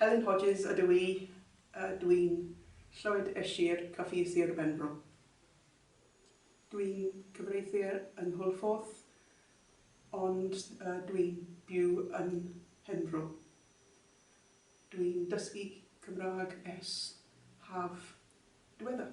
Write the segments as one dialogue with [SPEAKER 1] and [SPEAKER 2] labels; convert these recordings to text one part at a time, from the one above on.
[SPEAKER 1] Helen Hodges ydw i a dw i'n Llwyd y Sir, Coffee Sir Benfro. Dw i'n cyfreithu yng Nghwlffordd ond dw i'n byw yn Mhenfro. Dw i'n dysgu Cymraeg ers haf diweddar.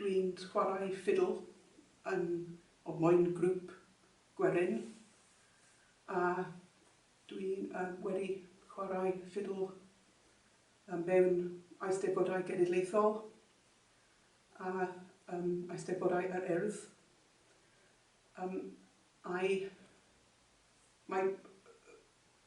[SPEAKER 1] Dwi'n chwarae ffidl yn o moyn grŵp gwerin a dwi yy wedi chwarae ffidl yy mewn Eisteddfodau Genedlaethol a yym Eisteddfodau yr Urdd yym a'i mae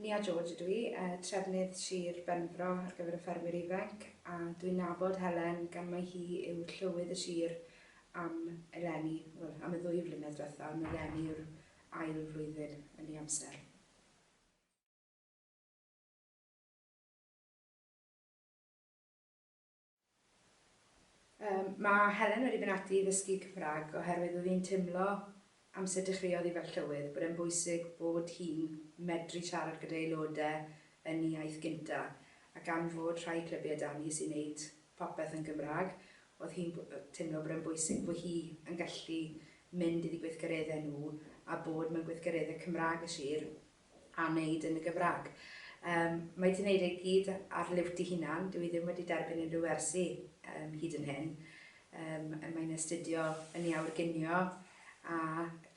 [SPEAKER 1] Nia George ydw i, trefnydd Sir Benfro ar gyfer y Ffermwyr Ifanc, a dwi'n nabod Helen gan mai hi yw Llywydd y Sir am eleni, wel, am y ddwy flynedd diwetha, ond eleni yw'r ail flwyddyn yn ei amser. Yym, mae Helen wedi mynd ati i ddysgu Cymraeg oherwydd oedd hi'n teimlo, amser dechreuodd hi fel Llywydd, bod e'n bwysig bod hi'n medru siarad gyda'i aelodau yn ei iaith gyntaf, a gan fod rhai clybiau 'da ni sy'n neud popeth yn Gymraeg, oedd hi'n b- yy teimlo bod e'n bwysig fo' hi yn gallu mynd iddi gweithgareddau nhw, a bod mewn gweithgareddau Cymraeg y sir, a wneud yn y Gymraeg. Yym, mae hi 'di wneud e i gyd ar liwt ei hunan, dyw hi ddim wedi derbyn unrhyw wersi yym hyd yn hyn. Yym, mae'n astudio yn ei awyr ginio a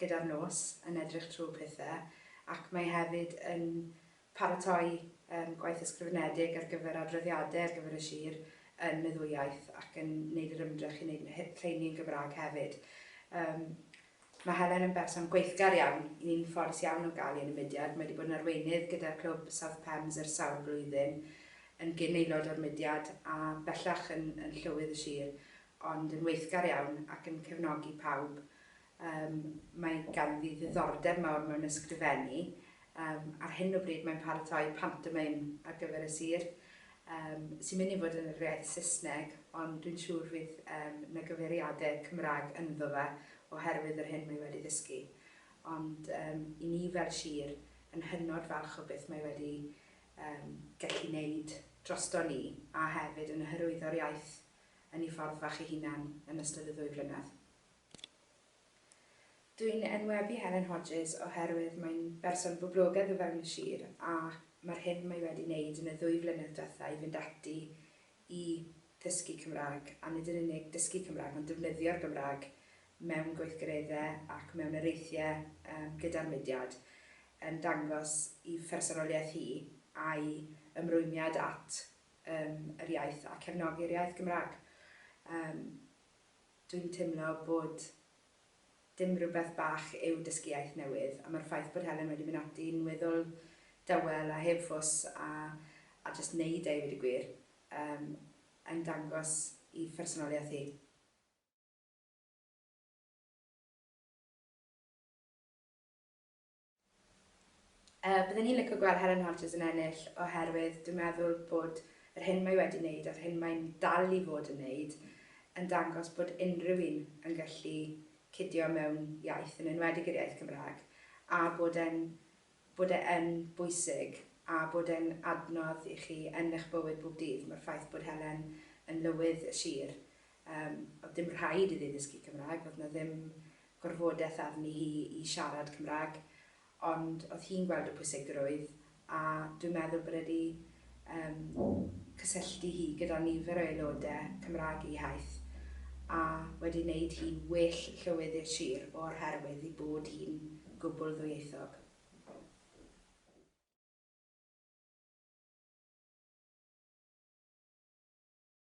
[SPEAKER 1] gyda'r nos yn edrych trwy pethe, ac mae hefyd yn paratoi yym gwaith ysgrifenedig ar gyfer adroddiadau ar gyfer y sir yn y ddwy iaith ac yn wneud yr ymdrech i wneud lle- lleini yn Gymraeg hefyd. Yym, Mae Helen yn berson gweithgar iawn, un ffodus iawn o gael hi yn y mudiad. Mae 'di bod yn arweinydd gyda'r clwb South Pembs ers sawl blwyddyn, yn gyn aelod o'r mudiad a bellach yn yn llywydd y sir, ond yn weithgar iawn ac yn cefnogi pawb. Yym, mae ganddi ddiddordeb mawr mewn ysgrifennu. Yym, ar hyn o bryd mae'n paratoi pantomeim ar gyfer y sir. Yym, sy'n mynd i fod yn yr iaith Saesneg, ond dwi'n siŵr fydd yym 'na gyfeiriade Cymraeg ynddo fe oherwydd yr hyn mae wedi ddysgu. Ond yym, i ni fel sir, yn hynod falch o beth mae wedi yym gallu neud drosto ni, a hefyd yn hyrwyddo'r iaith yn ei ffordd fach ei hunan yn ystod y ddwy flynedd. Dwi'n enwebu Helen Hodges oherwydd mae'n berson boblogaidd o fewn y sir ac mae'r hyn mae wedi wneud yn y ddwy flynedd diwetha' i fynd ati i ddysgu Cymraeg, a nid yn unig dysgu Cymraeg ond defnyddio'r Gymraeg mewn gweithgareddau ac mewn areithiau gyda'r mudiad, yn dangos i phersonoliaeth hi a'i ymrwymiad at yr iaith a cefnogi'r iaith Gymraeg. Dwi'n teimlo bod dim rhywbeth bach yw dysgu iaith newydd, a mae'r ffaith bod Helen wedi mynd ati i'n weddol dawel a heb fws a a jyst neud e i weud y gwir, yym, yn dangos i phersonoliaeth hi. Yy bydden i'n lico gweld Helen Hodges yn ennill oherwydd dwi'n meddwl bod yr hyn mae wedi wneud a'r hyn mae'n dal i fod yn wneud yn dangos bod unrhyw un yn gallu cidio mewn iaith yn enwedig yr iaith Gymraeg a bod e'n bod e yn bwysig a bod e'n adnodd i chi yn eich bywyd bob dydd. Mae'r ffaith bod Helen yn lywydd y sir Yym, oedd dim rhaid iddi ddysgu Cymraeg, oedd 'na ddim gorfodaeth arni hi i siarad Cymraeg, ond oedd hi'n gweld y pwysigrwydd, a dwi'n meddwl bod e 'di yym cysylltu hi gyda nifer o aelodau Cymraeg ei haith, a wedi wneud hi'n well llywydd i'r sir o'r herwydd ei bod hi'n gwbl ddwyieithog.